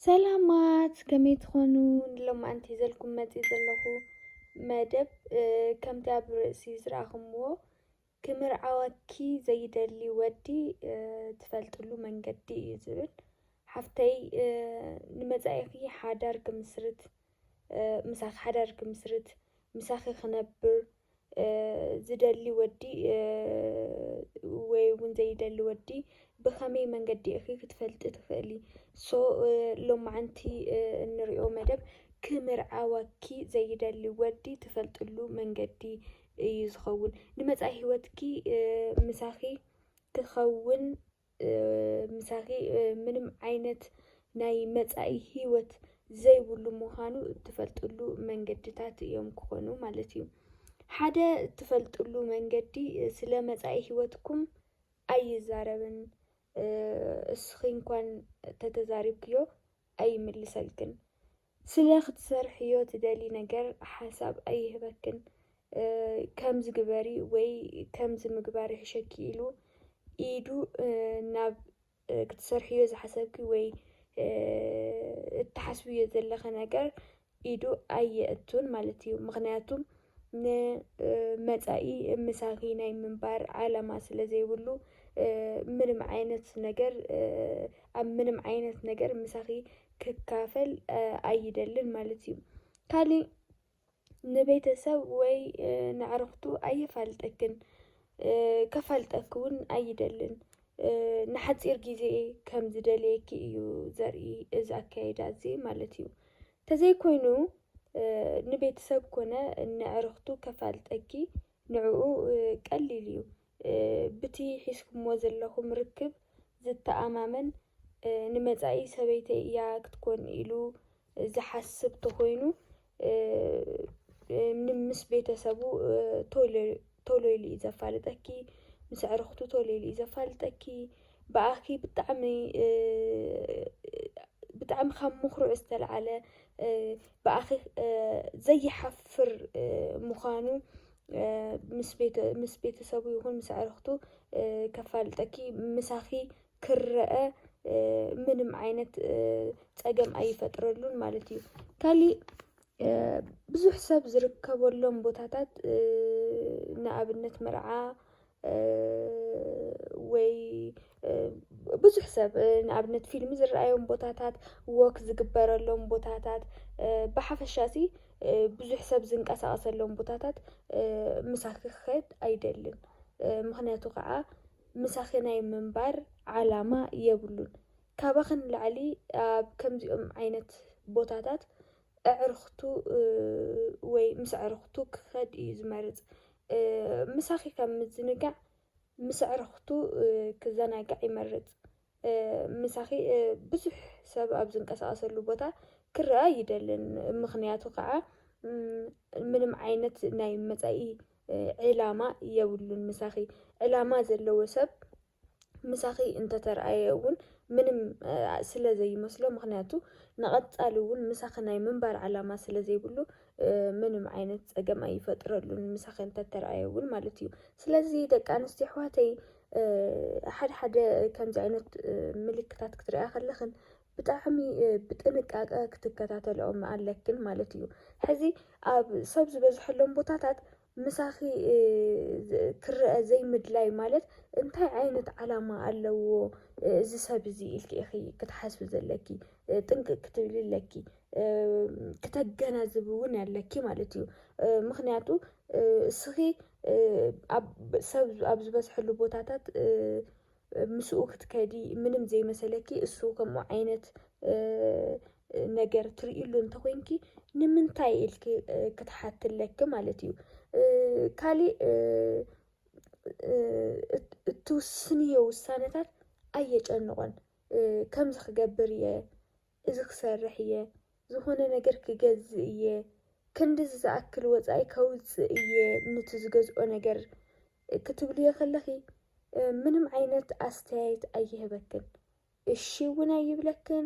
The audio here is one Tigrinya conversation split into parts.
ሰላማት ከመይ ትኾኑ ንሎማዓንቲ ዘልኩም መፂ ዘለኹ መደብ ከምቲ ኣብ ርእሲ ዝረኣኹምዎ ክምርዓወኪ ዘይደሊ ወዲ ትፈልጥሉ መንገዲ እዩ ዝብል ሓፍተይ ንመፃኢኺ ሓዳር ክምስርት ምሳኺ ሓዳር ክምስርት ምሳኺ ክነብር ዝደሊ ወዲ ወይ እውን ዘይደሊ ወዲ ብኸመይ መንገዲ ኢኺ ክትፈልጢ ትኽእሊ ሶ ሎማዓንቲ እንሪኦ መደብ ክምርዓወኪ ዘይደሊ ወዲ ትፈልጥሉ መንገዲ እዩ ዝኸውን ንመፃኢ ሂወትኪ ምሳኺ ክኸውን ምሳኺ ምንም ዓይነት ናይ መጻኢ ህይወት ዘይብሉ ምዃኑ እትፈልጥሉ መንገድታት እዮም ክኾኑ ማለት እዩ። ሓደ እትፈልጥሉ መንገዲ ስለ መጻኢ ህይወትኩም ኣይዛረብን። እስኺ እንኳን ተተዛሪብክዮ ኣይምልሰልክን ስለ ክትሰርሕዮ ትደልዪ ነገር ሓሳብ ኣይህበክን ከምዚ ግበሪ ወይ ከምዚ ምግባር ይሕሸኪ ኢሉ ኢዱ ናብ ክትሰርሕዮ ዝሓሰብኪ ወይ እትሓስብዮ ዘለኺ ነገር ኢዱ ኣየእቱን ማለት እዩ። ምኽንያቱ ንመፃኢ ምሳኺ ናይ ምንባር ዓላማ ስለ ዘይብሉ ምንም ዓይነት ነገር ኣብ ምንም ዓይነት ነገር ምሳኺ ክካፈል ኣይደልን ማለት እዩ። ካሊእ ንቤተሰብ ወይ ንኣዕርኽቱ ኣየፋልጠክን ከፋልጠኪ እውን ኣይደልን። ንሓጺር ግዜ ከም ዝደልየኪ እዩ ዘርኢ እዚ ኣከያይዳ እዚ ማለት እዩ። ተዘይኮይኑ ንቤተሰብ ኮነ ንዕርኽቱ ከፋልጠኪ ንዕኡ ቀሊል እዩ። ብቲ ሒዝኩሞ ዘለኹም ርክብ ዝተኣማመን ንመጻኢ ሰበይተይ እያ ክትኮን ኢሉ ዝሓስብ ተኾይኑ ምስ ቤተሰቡ ቶሎ ኢሉ እዩ ዘፋልጠኪ፣ ምስ ኣዕርኽቱ ቶሎ ኢሉ እዩ ዘፋልጠኪ። ብኣኺ ብጣዕሚ ብጣዕሚ ካብ ምኽሩዕ ዝተልዓለ ብኣኺ ዘይሓፍር ምዃኑ ምስ ቤተሰቡ ይኹን ምስ ኣዕርኽቱ ከፋልጠኪ ምሳኺ ክረኣ ምንም ዓይነት ፀገም ኣይፈጥረሉን ማለት እዩ። ካሊእ ብዙሕ ሰብ ዝርከበሎም ቦታታት ንኣብነት መርዓ ወይ ብዙሕ ሰብ ንኣብነት ፊልሚ ዝረኣዮም ቦታታት፣ ወክ ዝግበረሎም ቦታታት ብሓፈሻ እዚ ብዙሕ ሰብ ዝንቀሳቐሰሎም ቦታታት ምሳኺ ክኸድ ኣይደልን። ምኽንያቱ ከዓ ምሳኺ ናይ ምንባር ዓላማ የብሉን። ካባኺ ንላዕሊ ኣብ ከምዚኦም ዓይነት ቦታታት ኣዕርኽቱ ወይ ምስ ኣዕርኽቱ ክኸድ እዩ ዝመርጽ። ምሳኺ ካብ ምዝንጋዕ ምስ ኣዕርኽቱ ክዘናጋዕ ይመርጽ። ምሳኺ ብዙሕ ሰብ ኣብ ዝንቀሳቐሰሉ ቦታ ክረኣ ኣይደልን። ምኽንያቱ ከዓ ምንም ዓይነት ናይ መጻኢ ዕላማ የብሉን ምሳኺ። ዕላማ ዘለዎ ሰብ ምሳኺ እንተተርኣየ እውን ምንም ስለ ዘይመስሎ ምኽንያቱ ንቐፃሊ እውን ምሳኺ ናይ ምንባር ዕላማ ስለ ዘይብሉ ምንም ዓይነት ፀገም ኣይፈጥረሉን ምሳኺ እንተተርኣየ እውን ማለት እዩ። ስለዚ ደቂ ኣንስትዮ ኣሕዋተይ ሓደ ሓደ ከምዚ ዓይነት ምልክታት ክትሪኣ ከለኽን ብጣዕሚ ብጥንቃቀ ክትከታተልኦም ኣለክን ማለት እዩ። ሕዚ ኣብ ሰብ ዝበዝሐሎም ቦታታት ምሳኺ ክረኣ ዘይምድላይ ማለት እንታይ ዓይነት ዓላማ ኣለዎ እዚ ሰብ እዚ ኢልኪ ኢኺ ክትሓስቢ ዘለኪ። ጥንቅቅ ክትብሊ ኣለኪ። ክተገናዝቢ እውን ኣለኪ ማለት እዩ። ምኽንያቱ እስኺ ኣብ ሰብ ኣብ ዝበዝሐሉ ቦታታት ምስኡ ክትከዲ ምንም ዘይመሰለኪ እሱ ከምኡ ዓይነት ነገር ትርእሉ እንተኮይንኪ ንምንታይ ኢልኪ ክትሓቲ ኣለኪ ማለት እዩ ካሊእ እትውስንዮ ውሳነታት ኣየጨንቆን ከምዚ ክገብር እየ እዚ ክሰርሕ እየ፣ ዝኾነ ነገር ክገዝእ እየ፣ ክንድዚ ዝኣክል ወጻኢ ከውጽእ እየ ኑቲ ዝገዝኦ ነገር ክትብልዮ ከለኺ ምንም ዓይነት ኣስተያየት ኣይህበክን። እሺ እውን ኣይብለክን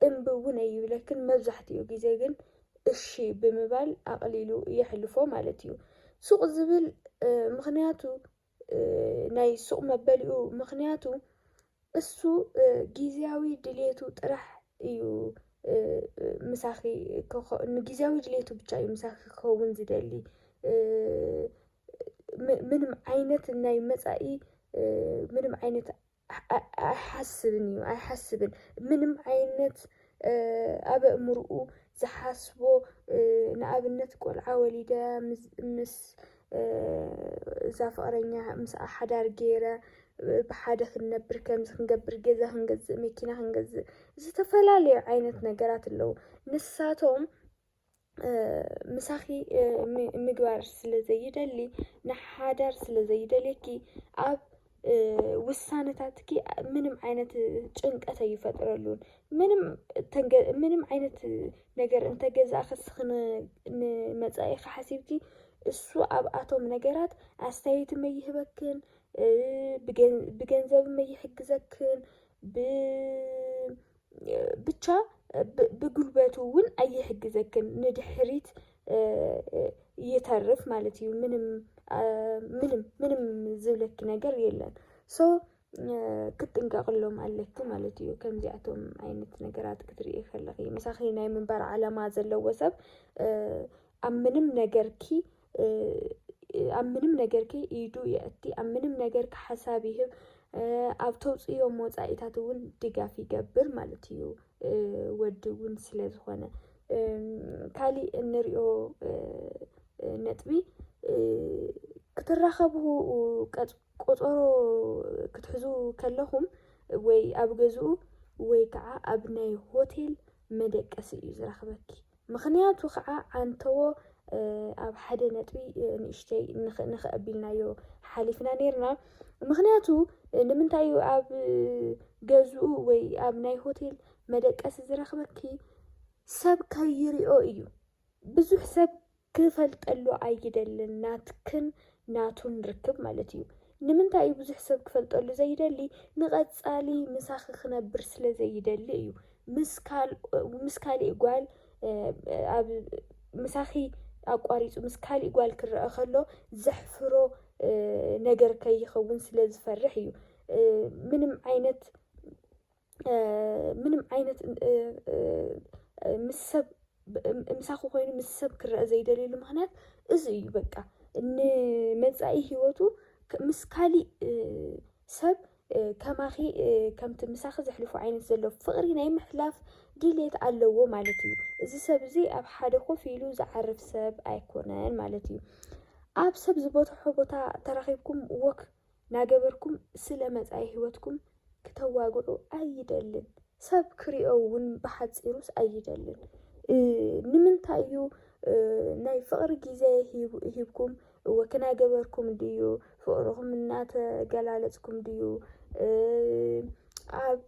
እምቢ እውን ኣይብለክን መብዛሕትኡ ግዜ ግን እሺ ብምባል ኣቕሊሉ የሕልፎ ማለት እዩ። ሱቕ ዝብል ምኽንያቱ ናይ ሱቕ መበሊኡ ምኽንያቱ እሱ ጊዜያዊ ድሌቱ ጥራሕ እዩ ምሳኺ ንጊዜያዊ ድሌቱ ብቻ እዩ ምሳኺ ክኸውን ዝደሊ ምንም ዓይነት ናይ መፃኢ ምንም ዓይነት ኣይሓስብን እዩ ኣይሓስብን ምንም ዓይነት ኣብ ኣእምርኡ ዝሓስቦ ንኣብነት ቆልዓ ወሊደ ምስ እዛ ፍቕረኛ ምስኣ ሓዳር ገይረ ብሓደ ክንነብር ከምዚ ክንገብር ገዛ ክንገዝእ መኪና ክንገዝእ ዝተፈላለዩ ዓይነት ነገራት ኣለዉ ንሳቶም ምሳኺ ምግባር ስለ ዘይደሊ ንሓዳር ስለ ዘይደልየኪ ኣብ ውሳነታትኪ ምንም ዓይነት ጭንቀት ኣይፈጥረሉን። ምንም ምንም ዓይነት ነገር እንተገዛእኺ ንስኺ ንመፃኢኺ ሓሲብኪ እሱ ኣብኣቶም ነገራት ኣስተያየት ኣይህበክን፣ ብገንዘብ ኣይሕግዘክን፣ ብ ብቻ ብጉልበቱ እውን ኣይሕግዘክን ንድሕሪት ይተርፍ ማለት እዩ። ምንም ምንም ምንም ዝብለኪ ነገር የለን ሶ ክትጥንቀቅሎም ኣለኪ ማለት እዩ። ከምዚኣቶም ዓይነት ነገራት ክትርኢ ከለኺ ምሳኺ ናይ ምንባር ዓላማ ዘለዎ ሰብ ኣብ ምንም ነገርኪ ኣብ ምንም ነገርኪ ኢዱ የእቲ፣ ኣብ ምንም ነገርኪ ሓሳብ ይህብ፣ ኣብ ተውፅእዮም ወፃኢታት እውን ድጋፍ ይገብር ማለት እዩ ወዲ እውን ስለ ዝኾነ። ካሊእ እንሪኦ ነጥቢ ክትራኸቡ ቆፀሮ ክትሕዙ ከለኹም ወይ ኣብ ገዝኡ ወይ ከዓ ኣብ ናይ ሆቴል መደቀሲ እዩ ዝረኽበኪ። ምኽንያቱ ኸዓ ኣንተዎ ኣብ ሓደ ነጥቢ ንእሽተይ ንኽእ ኣቢልናዮ ሓሊፍና ኔርና። ምኽንያቱ ንምንታይ እዩ ኣብ ገዝኡ ወይ ኣብ ናይ ሆቴል መደቀሲ ዝረኽበኪ ሰብ ከይሪኦ እዩ። ብዙሕ ሰብ ክፈልጠሉ ኣይደልን ናትክን ናቱን ርክብ ማለት እዩ። ንምንታይ እዩ ብዙሕ ሰብ ክፈልጠሉ ዘይደሊ ንቀጻሊ ምሳኺ ክነብር ስለ ዘይደሊ እዩ ምስ ካልእ ምስ ካሊእ ጓል ኣብ ምሳኺ ኣቋሪጹ ምስ ካሊእ ጓል ክረኣ ከሎ ዘሕፍሮ ነገር ከይኸውን ስለ ዝፈርሕ እዩ ምንም ዓይነት ምንም ዓይነት ምስ ሰብ ምሳኺ ኮይኑ ምስ ሰብ ክረአ ዘይደልየሉ ምኽንያት እዚ እዩ በቃ ንመፃኢ ሂወቱ ምስ ካሊእ ሰብ ከማኺ ከምቲ ምሳኺ ዘሕልፎ ዓይነት ዘሎ ፍቕሪ ናይ ምሕላፍ ድሌት ኣለዎ ማለት እዩ። እዚ ሰብ እዚ ኣብ ሓደ ኮፍ ኢሉ ዝዓርፍ ሰብ ኣይኮነን ማለት እዩ። ኣብ ሰብ ዝበዝሖ ቦታ ተራኺብኩም ወክ ናገበርኩም ስለ መጻኢ ሂወትኩም ክተዋግዑ ኣይደልን ሰብ ክሪኦ ውን ብሓጺሩስ ኣይደልን ንምንታይ እዩ ናይ ፍቅሪ ግዜ ሂብኩም ወክናገበርኩም ድዩ ፍቅርኩም እናተገላለጽኩም ድዩ ኣብ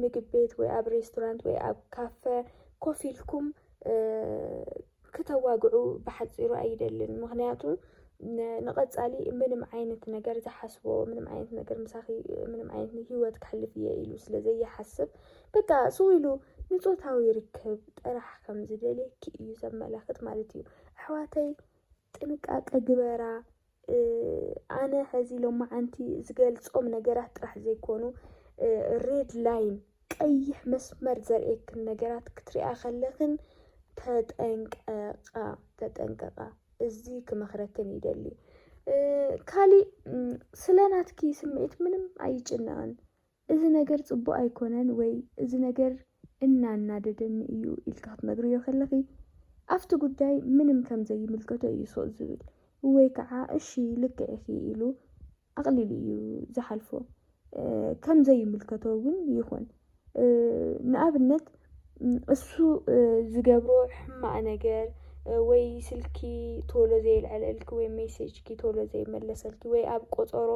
ምግብ ቤት ወይ ኣብ ሬስቶራንት ወይ ኣብ ካፈ ኮፍ ኢልኩም ክተዋግዑ ብሓጺሩ ኣይደልን ምኽንያቱ ንቐጻሊ ምንም ዓይነት ነገር ዝሓስቦ ምንም ዓይነት ነገር ምሳኺ ምንም ዓይነት ህይወት ክሕልፍ እየ ኢሉ ስለ ዘይሓስብ በቃ ስው ኢሉ ንጾታዊ ርክብ ጥራሕ ከም ዝደልየኪ እዩ ዘመላኽት ማለት እዩ። ኣሕዋተይ ጥንቃቀ ግበራ ኣነ ሐዚ ሎማዓንቲ ዝገልፆም ነገራት ጥራሕ ዘይኮኑ ሬድ ላይን ቀይሕ መስመር ዘርእየክን ነገራት ክትሪኣ ከለክን ተጠንቀቃ ተጠንቀቃ እዚ ክመክረክን ይደሊ ካሊእ ስለናትኪ ስምዒት ምንም ኣይጭነቅን እዚ ነገር ጽቡቕ ኣይኮነን ወይ እዚ ነገር እናናደደኒ እዩ ኢልኪ ክትነግርዮ ከለኺ፣ ኣብቲ ጉዳይ ምንም ከም ዘይምልከቶ እዩ ሱቕ ዝብል ወይ ከኣ እሺ ልክዕ ኢኺ ኢሉ ኣቕሊሉ እዩ ዝሓልፎ። ከም ዘይምልከቶ እውን ይኹን። ንኣብነት እሱ ዝገብሮ ሕማቕ ነገር ወይ ስልኪ ቶሎ ዘየልዐለልኪ ወይ ሜሴጅኪ ቶሎ ዘይመለሰልኪ ወይ ኣብ ቆጸሮ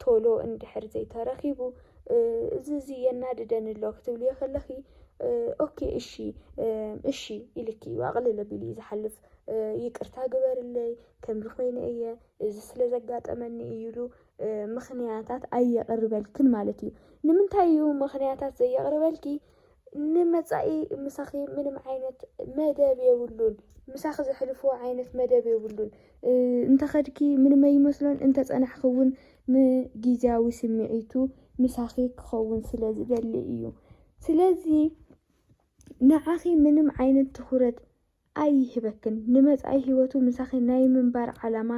ቶሎ እንድሕር ዘይተረኺቡ እዚ እዚ የናድደኒ ኣሎ ክትብልዮ ከለኺ ኦኬ እሺ እሺ ኢልኪ እዩ ኣቕልል ኣቢሉ እዩ ዝሓልፍ ይቅርታ ግበርለይ ከምዚ ኮይነ እየ እዚ ስለ ዘጋጠመኒ እዩ ኢሉ ምኽንያታት ኣየቕርበልክን ማለት እዩ ንምንታይ እዩ ምኽንያታት ዘየቕርበልኪ ንመጻኢ ምሳኺ ምንም ዓይነት መደብ የብሉን። ምሳኺ ዘሕልፍዎ ዓይነት መደብ የብሉን። እንተኸድኪ ምንም ኣይመስሎን፣ እንተጸናሕኪ እውን ንግዝያዊ ስምዒቱ ምሳኺ ክኸውን ስለ ዝደሊ እዩ። ስለዚ ንዓኺ ምንም ዓይነት ትኹረት ኣይህበክን ንመጻኢ ሂወቱ ምሳኺ ናይ ምንባር ዓላማ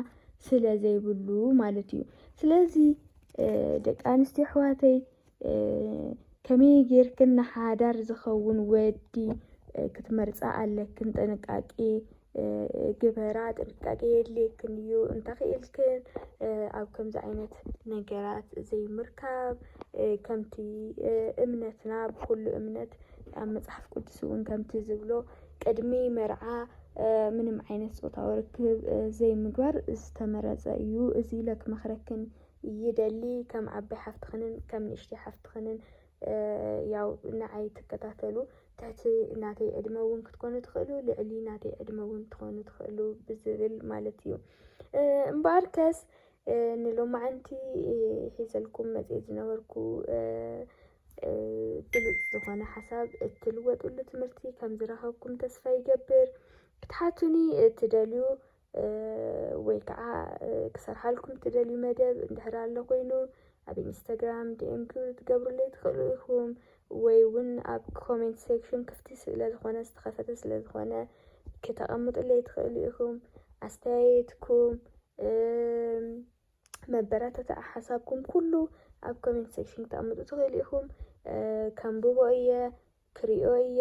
ስለ ዘይብሉ ማለት እዩ ስለዚ ደቂ ኣንስትዮ ኣሕዋተይ ከመይ ጌርክን ንሓዳር ዝኸውን ወዲ ክትመርጻ ኣለክን ጥንቃቄ ግበራ ጥንቃቄ የድልየክን እዩ እንተኽኢልክን ኣብ ከምዚ ዓይነት ነገራት ዘይምርካብ ከምቲ እምነትና ብኩሉ እምነት ኣብ መጽሓፍ ቅዱስ እውን ከምቲ ዝብሎ ቅድሚ መርዓ ምንም ዓይነት ፆታዊ ርክብ ዘይምግባር ዝተመረፀ እዩ። እዚ ኢለ ክመኽረክን ይደሊ ከም ዓባይ ሓፍትኽንን ከም ንእሽተይ ሓፍትኽንን ያው ንዓይ ትከታተሉ ትሕቲ ናተይ ዕድመ እውን ክትኮኑ ትኽእሉ ልዕሊ ናተይ ዕድመ እውን ትኾኑ ትኽእሉ ብዝብል ማለት እዩ እምበኣር ከስ ንሎማዓንቲ ሒዘልኩም መፅኤ ዝነበርኩ ብሉጽ ዝኾነ ሓሳብ እትልወጥሉ ትምህርቲ ከም ዝረኸብኩም ተስፋ ይገብር ክትሓቱኒ እትደልዩ ወይ ከዓ ክሰርሓልኩም እትደልዩ መደብ እንድሕር ኣሎ ኮይኑ ኣብ ኢንስታግራም ዲኤም ክትገብሩለይ ትኽእሉ ኢኹም ወይ እውን ኣብ ኮሜንት ሴክሽን ክፍቲ ስለ ዝኾነ ዝተኸፈተ ስለ ዝኾነ ክተቐምጡለይ ትኽእሉ ኢኹም ኣስተያየትኩም መበረታትዒ ሓሳብኩም ኩሉ ኣብ ኮሜንት ሴክሽን ክተቕምጡ ትኽእሉ ኢኹም። ከንብቦ እየ ክሪኦ እየ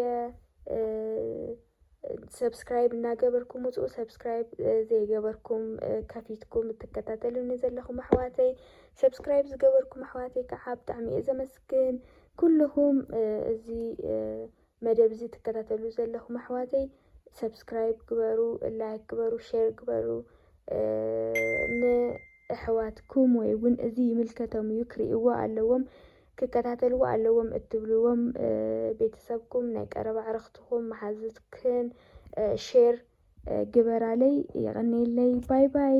ሰብስክራይብ እናገበርኩም ውፅኡ ሰብስክራይብ ዘይገበርኩም ከፊትኩም እትከታተሉኒ ዘለኹም ኣሕዋተይ ሰብስክራይብ ዝገበርኩም ኣሕዋተይ ከዓ ብጣዕሚ እየ ዘመስግን ኩልኹም እዚ መደብ እዚ ትከታተሉ ዘለኹም ኣሕዋተይ ሰብስክራይብ ግበሩ ላይክ ግበሩ ሼር ግበሩ ንኣሕዋትኩም ወይ እውን እዚ ይምልከቶም እዩ ክርእይዎ ኣለዎም ክከታተልዎ ኣለዎም እትብልዎም ቤተሰብኩም ናይ ቀረባ ኣዕርኽትኹም መሓዝትክን ሼር ግበራለይ የቐኔለይ ባይ ባይ